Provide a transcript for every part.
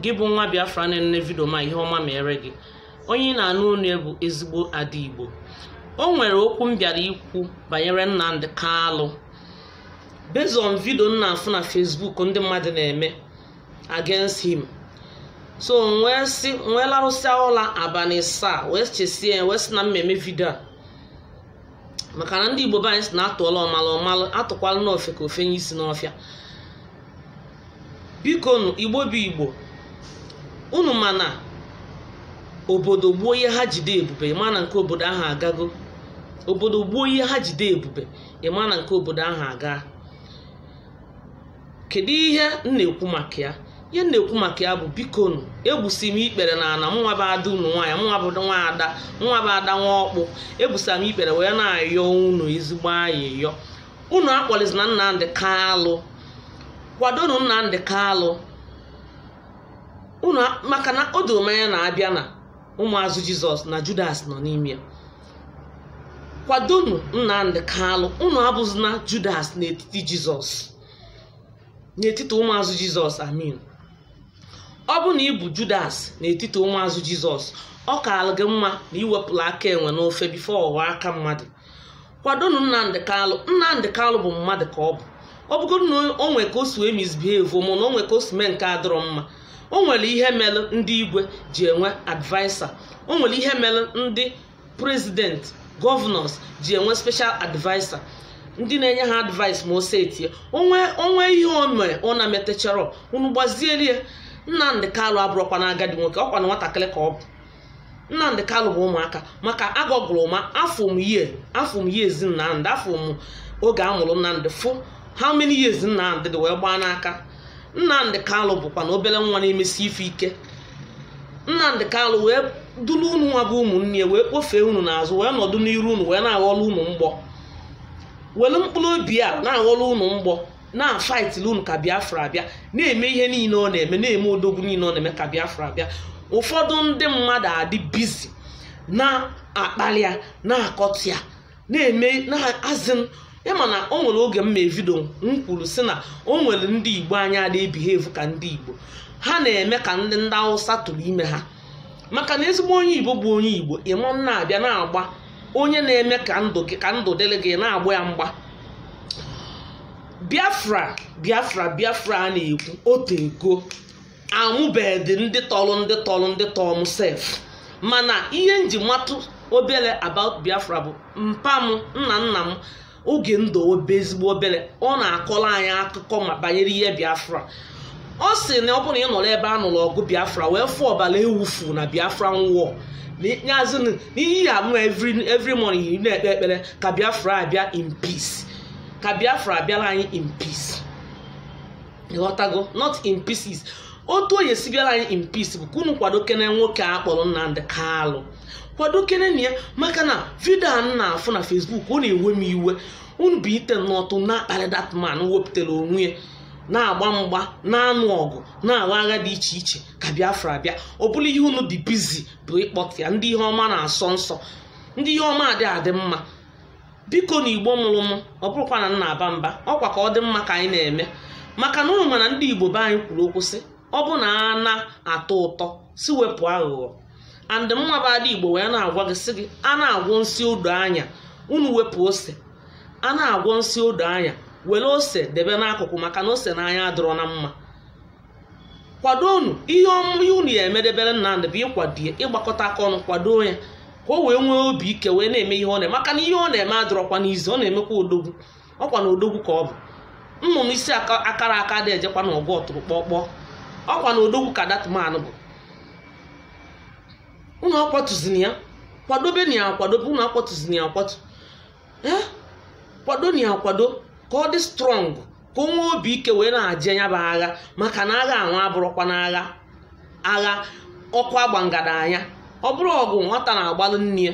gị bụ nwa biafra na-enene vidio m a ihe ọma mere gị onye ị na-anụ olu ya bụ ezigbo ada igbo o nwere okwu m bịara ikwu banyere nnamdị kalụ based on vidio m na-afụ na facebook ndị mmadụ na-eme against him so m wee sị m wee larụsịa ụla abalị ịsaa wee chesie wee sị na m ma-eme vidio a maka na ndị igbo be anyị sị na atụọla ọmalụ ọ malụ atụkwala nụ ofeke o fenye isi n'ọfịa bikonu igbo bụ igbo unu ma na obodo gbuo ihe ha ji dị ebube ị ma na nke obodo ahụ agago obodo gbuo ihe ha ji dị ebube ị ma na nke obodo ahụ aga kedu ihe m na-ekwu maka ya ihe m na-ekwu maka ya bụ bikonu egbusi m ikpere n'ana mụnwa bụ ada unu nwaanyị mụnwa bụ nwa ada mụnwa bụ ada nwa ọkpụ egbusa m ikpere wee na-ayọ unu ezigbo ayịyọ unu akpalizina Nnamdị Kalụ kwadonu Nnamdị Kalụ unu maka na o doro m anya na a bịa n'ụmụazụ Jizọs na Judas nọ n'ime ya kwadonu nnamdị kalụ unu abụzina judas n'etiti jizọs n'etiti ụmụazụ jizọs i mean ọ bụ na ị bụ judas n'etiti ụmụazụ jizọs ọ kaala gị mma na i wepụla aka enwe n'ofe before ọ ghọọ aka mmadụ kwadonu nnamdị kalụ nnamdị kalụ bụ mmadụ ka ọ bụ ọ bụgodu na o nwee ka o si wee misbehave mana o nwee ka o si mee nke adịrọ mma o nwere ihe mere ndị igwe ji enwe adviser o nwere ihe mere ndị president governors ji enwe special adviser ndị na-enye ha advice ma o setie o nwee ihe o mere ọ na-emetacharọ unu gbaziere ya nnamdị kalụ abụrọkwanụ agadi nwoke ọ kwanụ nwatakịrị ka ọ bụ nnamdị kalụ bụ ụmụaka maka agọgụrụ m afụ m yie afụ m years nnamdị afụ m oge a mụrụ nnamdị fụ how many years nnamdị dị wee gbaa n'aka nnamdị kalụ bụkwanụ obere nwa na-emesi ife ike nnamdị kalụ wee duru unu nwa bụ ụmụnne ya wee kpofee unu n'azụ wee nọdụ n'iru unu wee na-aghọrọ unu mgbọ were mkpụrụ obi ya na-aghọrọ unu mgbọ na-afaitili unu ka biafra bịa na-eme ihe niile ọ na-eme na-eme odogwu niile ọ na-eme ka biafra bịa ụfọdụ ndị mmadụ adị bizi na-akpali ya na-akọcha ya na-eme na-azị ị ma na o nwere oge m mee vidio m kwuru sị na o nwere ndị igbo anyị ana-ebehave ka ndị igbo ha na-eme ka ndị ndị awụsa tụrụ ime ha maka na ezigbo onye igbo bụ onye igbo ama na-abịa na-agba onye na-eme ka ndụ gị ka ndụ dịrị gị na-agba ya mgba biafra biafra biafra a na-ekwu o teego amụbedị ndị tọrọ ndị tọrọ ndị tọrọ m sef mana ihe m ji matụ obere about biafra bụ mpa m nna nna m oge m dụ obe ezigbo obere ọ na-akọrọ anyị akụkọ ma banyere ihe biafra ọ sị na ọ bụrụ na ị nọrọ ebe a nụrụ ọgụ biafra wee fụ ọbara e wufuu na biafra nwụọ nyazi na ihe ya mụ every every morning ị na-ekpe ekpere ka biafra abịa in peace ka biafra abịara anyị in peace ịghọtago not in pieces otu ọ ya-esi bịara anyị in peace bụ ka unu kwadokene nwoke a kpọrọ nnamdi kalụ kwadokenenụ ya maka na vidio a m na-afụ na Facebook ọ na-ewe m iwe unu bilite n'ụtụtụ na-akparị dat man wepụtara onwe ya na-agba mgba na-anụ ọgụ na-agha agha dị iche iche ka Biafra bịa ọ bụrụ ihe unu dị bizi bụ ịkpọta ya ndị ihe ọma na-asọ nsọ ndị ihe ọma adị adị mma bikonụ igbo mụrụ m ọ bụrọkwa na m na-aba mba ọkwa ka ọ dị mma ka anyị na-eme maka na unu ma na ndị igbo be anyị kwuru okwu sị ọ bụ na a na-atọ ụtọ si wepụ aghụghọ and mụwa bụ ada igbo wee na-agwa gị sị gị a na-agwọ nsi odo anya unu wepụ ose a na-agwọ nsi odo anya were ose debe n'akụkụ maka na ose n'anya adịrọ na mma kwadonụ ihe unu ya emedebere Nnamdi bụ ịkwado ya ịgbakọta aka ọnụ kwado ya ka o wee nwee obi ike wee na-eme ihe ọ na-eme maka na ihe ọ na-eme adịrọkwanụ easy ọ na-emekwa odogwu ọkwa na odogwu ka ọ bụ nnụnụ isi aka- akarọ aka adị ejekwanụ ọgụ ọtụrụkpọkpọ ọkwa na odogwu ka dat man bụ unu akwatuzini ya kwadobenụ ya akwado unu akwatuzini ya akwatu ee kwadonụ ya akwado ka ọ dị strong ka o nwee obi ike wee na-aje ya bụ agha maka na agha a nwa abụrọkwanụ agha agha ọkụ a gba ngada anya ọ bụrọ ọgụ nwata na-agbalụ nne ya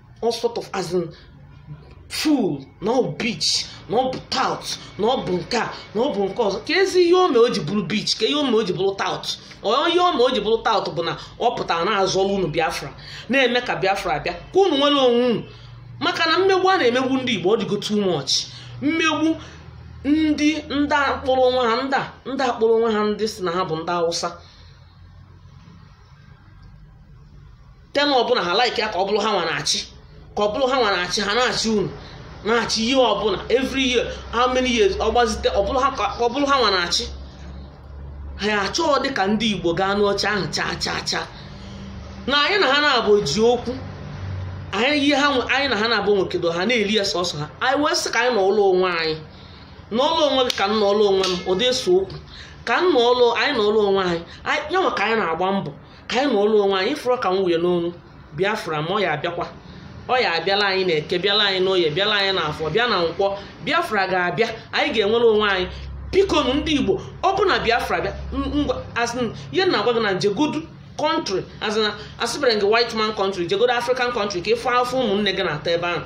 all sort of as in fool na ọ bụ bitch na ọ bụ tout na ọ bụ nke a na ọ bụ nke ọzọ keezi ihe o me o ji bụrụ bitch kee ihe o me o ji bụrụ tout ọ ihe o me o ji bụrụ tout bụ na ọ pụtara na-azọrọ unu biafra na-eme ka biafra bịa ka unu nwere onwe unu maka na mmegbu a na-emegbu ndị igbo ọ dịgo too much mmegbu ndị ndị a kpọrọ onwe ha ndị a ndị a kpọrọ onwe ha ndị si na ha bụ ndị hausa term ọbụla ha like ya ka ọ bụrụ ha nwa na-achị ka ọ bụrụ ha nwa na-achị ha na-achị unu na-achị year ọbụla every year how many years ọ gbazite ọ bụrụ ha ka ọ bụrụ ha nwa na-achị ha ya achọghọdị ka ndị igbo gaa n'oche ahụ chaa chaa chaa na anyị na ha naabọ ji okwu anyị ihe ha nwe- anyị na ha naabọ nwekọdo ha na-eri ya sọsọ ha anyị wee sị ka anyị nọọlụ onwe anyị nọọlụ onwe gị ka m nọọlụ onwe m ọ dị ese okwu ka m nọọlụ anyị nọọlụ onwe anyị anyị- ya nwa ka anyị na-agba mbọ ka anyị nọọlụ onwe anyị ịfụrọ ka m wuye n'onu biafra ma ọ ya abịakwa ọ ya abịala anyị na eke bịala anyị n'oye bịala anyị n'afọ bịa na nkwọ biafra ga-abịa anyị ga-enwere onwe anyị biko nụ ndị igbo ọ bụ na biafra bịa m- ngwa asị m, ihe m na-agwa gị na jegodu country asịberọ gị white man country jegodu african country ka ị fụ afụfụ ụmụnne gị na-ata ebe ahụ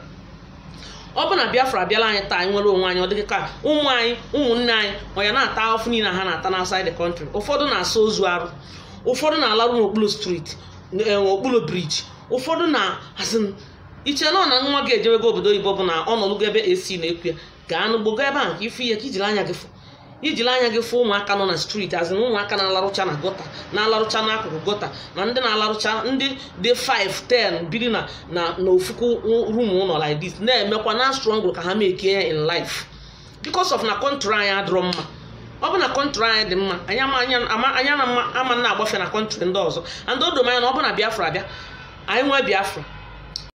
ọ bụ na biafra bịala anyị taa anyị nwere onwe anyị ọ dịghị ka ụmụ anyị ụmụnne anyị ọ ya na-ata afụfụ niile ha na-ata na outside the country ụfọdụ na-asa ozu arụ ụfọdụ na-alarụ n'okpuru street okpuru bridge ụfọdụ na as in i chee na ọ na nwa gị ejewego obodo oyibo bụ na ọ nọlụgo ebe ac na-eku ya gaa n'ụgbọ gaa ebe ahụ ka ị fụ ihe ka i jiri anya gị fụ i jiri anya gị fụ ụmụaka nọ na street as in ụmụaka na-alarụcha na gutter na-alarụcha n'akụkụ gutter na ndị na-alarụcha ndị dị 5 10 biri na na na ofuku room ụlọ like this na-emekwa na struggle ka ha mekie ya in life because of na country anyị adịrọ mma ọ bụ na country anyị dị mma anyị ama na-agbafe na country ndị ọzọ and o doro m anya na ọ bụ na biafra bịa anyị nwee biafra